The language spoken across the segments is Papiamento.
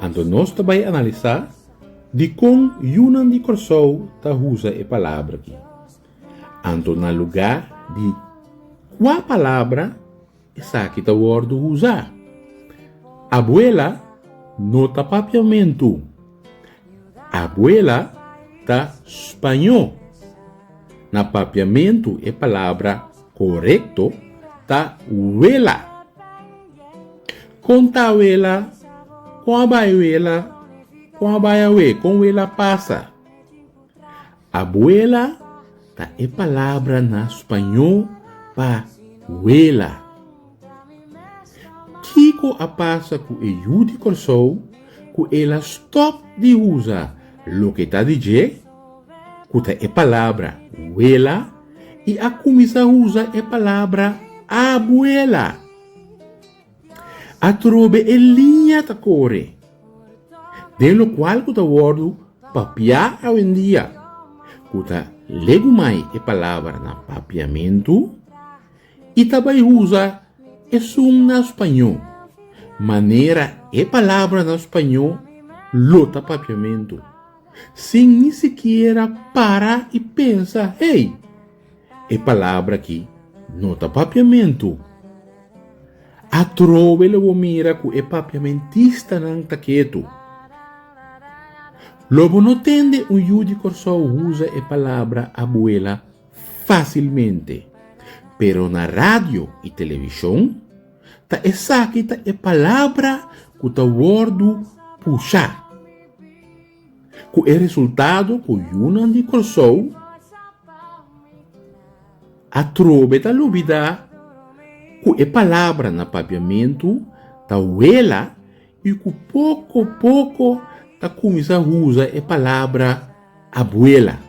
Anto nos ta bai analisá dikon yunan di Kòrsou ta usa e palabra akí. Anto na lugá di kua palabra esaki ta wòrdu usá? Abuela no ta papiamentu. Abuela ta spañó. Na papiamentu e palabra korekto ta wela. Con ta Wela? Con a bay Wela? Con a bay awe? Con Wela pasa? Abuela ta e palabra na spañó pa Wela. Kico a pasa cu e yu di Corsou cu el a stop di usa loke ta di dje, cu ta e palabra Wela, y a cuminsa usa e palabra Abuela? Atrobe e liña ta kore, den lokual ku ta wòrdu papiá awendia, ku ta legumai e palabra na papiamentu i ta bai usa esun na spañó, manera e palabra na spañó lo ta papiamentu, sin ni sikiera para i pensa, Hey! E palabra aki no ta papiamentu. Atrobe lo bo mira ku e papiamentistanan ta ketu. Lo bo no tende un yu di Kòrsou usa e palabra abuela fásilmente, pero na radio i televishon ta esaki ta e palabra ku ta wòrdu pushá. Ku e resultado ku yunan di Kòrsou atrobe ta lubidá ku e palabra na papiamentu ta wela i ku poko poko ta kuminsá usa e palabra abuela.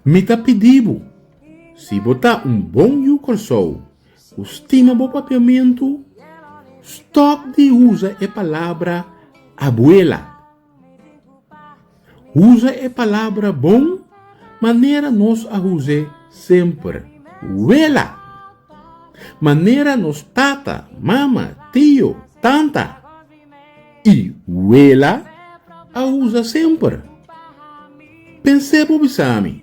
Mi ta pidibu, si bo ta un bon yu Kòrsou Ku stima bo papiamentu, stòp di usa e palabra abuela. Usa e palabra bon manera nos a us'é semper, wela, manera nos tata, mama, tio, tanta i wela a usa semper. Pens'é bo bisami.